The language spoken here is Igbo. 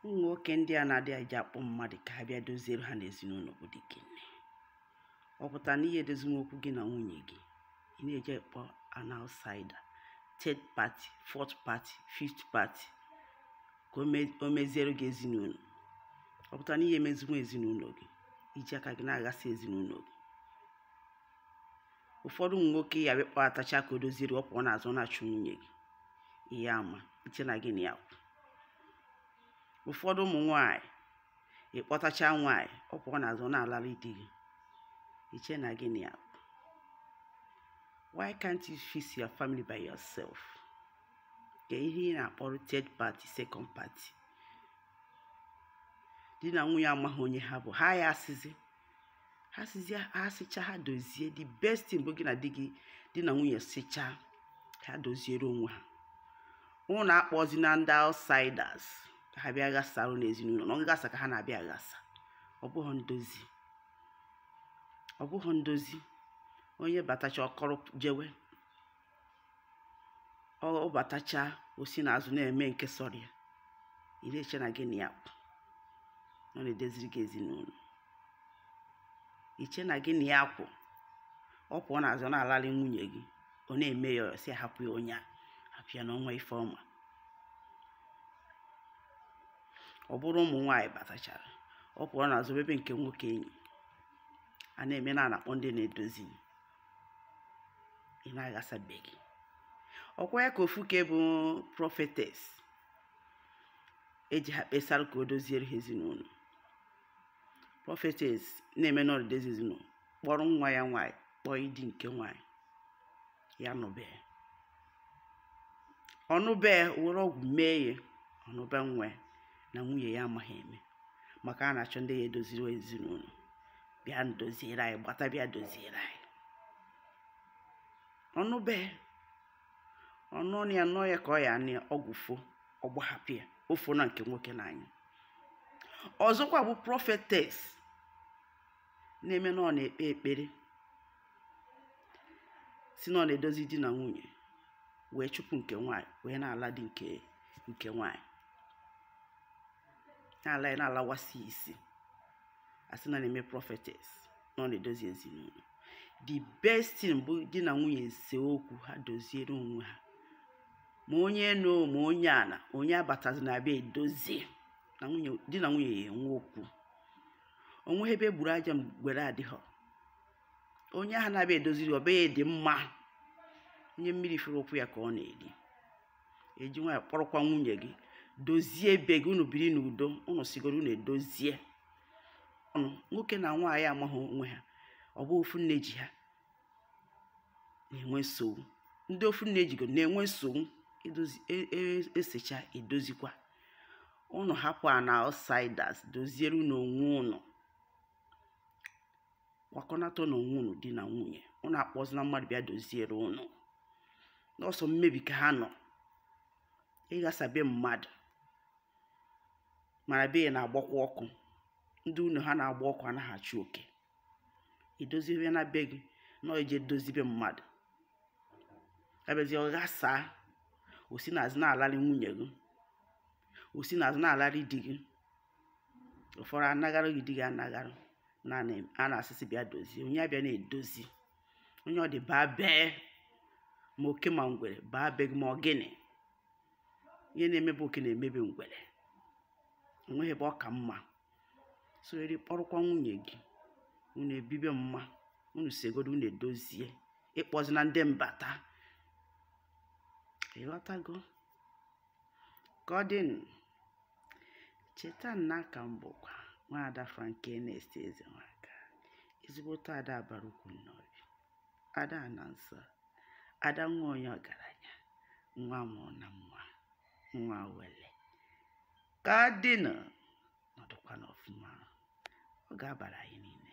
ụmụ nwoke ndị a na-adị eje akpọ mmadụ ka ha bịa doziere ha n'ezinụlọ bụ dike nne ọ pụta na ihe edozinwu okwu gị na nwunye gị ị na-eje akpọ an outsider third party fourth party fifth party ka o me- o meziere gị ezinụlọ ọ pụta na ihe emezinwu ezinụlọ gị i ji aka gị na-aghasị ezinụlọ gị ụfọdụ ụmụ nwoke ya bịa kpọtacha ka o doziere ọ pụọ n'azụ na-achụ nwunye gị ihe ama i che na gị na ya kwụ ụfọdụ ụmụ nwaanyị ị kpọtacha nwaanyị ọ pụọ n'azụ na-alara di gị i che na gị na ya kwụ why can't you fix your family by yourself kee ihe ị na-akpọrọ third party second party di na nwunye amaghị onye ha bụ ha ya esezi ha sezie ha secha ha dozie the best thing bụ gị na di gị di na nwunye secha ha doziere onwe ha ụnụ akpọzina ndị outsiders ka ha bịa ghasara ụnụ ezinụlọ na ọ nghasa ka ha na-abịa aghasa ọ bụghị ndozi ọ bụghị ndozi onye batacha ọ kọrọ jewe ọ batacha o si n'azụ na-eme nke sọrọ ya ị na-eche na gị na ya kwụ ọ na-edoziri gị ezinụlọ i che na gị na ya kwụ ọ pụọ n'azụ na-alalị nwunye gị ọ na-eme ya ọ sị hapụ ya onye a hapụ ya na o nwee ife ọma ọ bụrụ ụmụ nwaanyị batachara ọ pụọ n'azụ mebe nke nwoke enyi a na-eme na a na-akpọ ndị na-edozi ị na-aghasa be gị ọ kwa ya ka ofu nke bụ prophetess eji ha kpesara ka o doziere ha ezinụlọ prophetess na-eme na ọ na-edozi ezinụlọ kpọrọ nwa ya nwaanyị kpọnye di nke nwaanyị ya nụbe ọ nụbe were ọgwụ mee ya ọ nụbe nwa na nwunye ya amaghị eme maka a na-achọ ndị ya edoziri ezinụlọ bịa doziere anyị gbata bịa doziere anyị ọ nụbe ọ nụ ya nụ ya ka ọ ya anụ ọgwụ fo ọ gbahapụ ya o fo na nke nwoke n'anya ọzọkwa bụ prophetess na-eme na ọ na-ekpe ekpere si na ọ na-edozi di na nwunye wee chụpụ nke nwanyị wee na-ala di nke nke nwanyị na-ala ya na-alawasị isi a sị na a na-eme prophetess na ọ na-edozi ezinụlọ the best thing bụ di na nwunye ese okwu ha doziere onwe ha ma onye enu ma onye ana onye abatazina abịa edozi na di na nwunye ya enwe okwu o nweghị ebe e gburu aja ngwere adịghị onye ahụ na-abịa edoziri ọ be ya dị mma onye mmiri fụrụ ụkwụ ya ka ọ na-eri eji nwaanyị kpọrọkwa nwunye gị dozie be gị unu biri n'udo unu segodu unu edozie ọnụ nwoke na nwaanyị amaghị onwe ha ọ bụ ofu nne ji ha na-enwe nsogbu ndị ofu nne jigo na-enwe nsogbu esecha e, e edozikwa unu hapụkwanụ outsiders doziere unu onwe unu kwakọnatanụ onwe unu di na nwunye unu akpọzina mmadụ bịa doziere unu na ọ sọ mmebi ka ha nọ ịghasa be mmadụ mana be ya na-agbakwa ọkụ ndị ụnọ ha na-agba ọkụ anaghị achụ oke idozibe ya na be gị na ije dozie be mmadụ abịazi ọ ghasaa o si n'azụ na-alarị nwunye gị o si n'azụ na-alarị di gị ụfọdụ anaghara gị di gị anaghara a na-asị sị bịa dozie onye abịa na-edozi onye ọ dị baa bee ma oke ma ngwere baa be gị ma ọ gịnị ihe na-eme be oke na-eme be ngwere o nweghị ebe ọ ka mma so eri kpọrọkwa nwunye gị unu ebibe mma unu segodu unu edozie ị kpọzina ndị mbata ị ghọtago ka ọ dịnụ cheta na aka m bụkwa nwaada frank enest ezenwaka ezigbote ada abara ukwu nnobi ada na nsọ ada nwa onye ọgaranya nwa mụrụ na nwa nwa wele ka ọ dịnụ nọdụkwanụ ọfụma ọ ga-abara anyị niile